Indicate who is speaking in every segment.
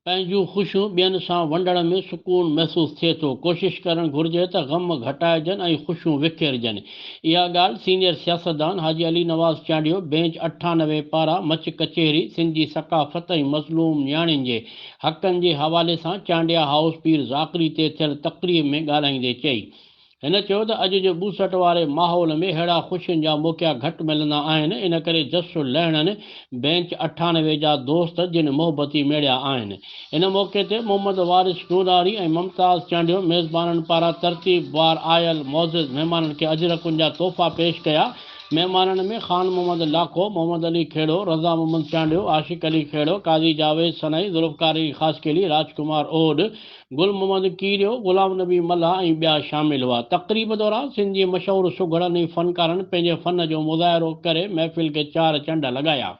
Speaker 1: پنهنجون خوشيون ٻين سان ونڊڻ ۾ سڪون محسوس ٿئي ٿو، ڪوشش ڪرڻ گهرجي ته غم گهٽائجن ۽ خوشيون وکيرجن، اها ڳالهه سينيئر سياستدان حاجي علي نواز چانڊيو بينچ اٺانوي پارا مچ ڪچهري سنڌ جي ثقافت ۽ مظلوم نياڻين جي حقن جي حوالي سان چانڊيا هائوس پير ذاڪري تي ٿيل تقريب ۾ ڳالهائيندي چئي. هن چيو ته اڄ جي ٻوسٽ واري ماحول ۾ ههڙا خوشين جا موقعا گهٽ ملندا آهن ان ڪري جس لهڻن بينچ اٺانوي جا دوست جن محبتي ميڙيا آهن ان موقعي تي محمد وارث ڏوناري ۽ ممتاز چانڊيو ميزبانن پاران ترتيب وار آيل معزز مهمانن کي اجرڪن جا تحفا پيش ڪيا مهمانن ۾ خان محمد لاکو، محمد علي کهڙو، رضا محمد چانڊيو، عاشق علي کهڙو، قاضي جاويد سنائي، ذوالفقار علي خاصخيلي، راج ڪمار اهوڏ، گل محمد ڪيريو، غلام نبي ملاح ۽ ٻيا شامل هئا. تقريب دوران سنڌ جي مشهور سگهڙن ۽ فنڪارن پنهنجي فن جو مظاهرو ڪري محفل کي چار چنڊ لڳايا.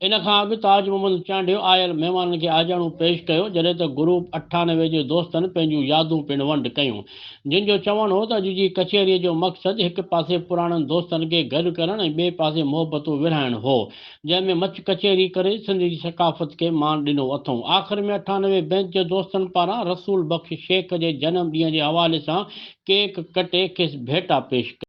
Speaker 1: ان کان اڳ تاج محمد چانڊيو آيل مهمانن کي آجياڻو پيش ڪيو، جڏهن ته گروپ اٺانوي جي دوستن پنهنجون يادون پڻ ونڊ ڪيون، جن جو چوڻ هو ته اڄ جي ڪچهريء جو مقصد هڪ پاسي پراڻن دوستن کي گڏ ڪرڻ ۽ ٻئي پاسي محبتون ورهائڻ هو، جنهن ۾ مچ ڪچهري ڪري سنڌ جي ثقافت کي مان ڏنو اٿئون. آخر ۾ اٺانوي بينچ جي دوستن پاران رسول بخش شيخ جي جنم ڏينهن جي حوالي سان ڪيڪ ڪٽي کيس ڀيٽا پيش ڪئي.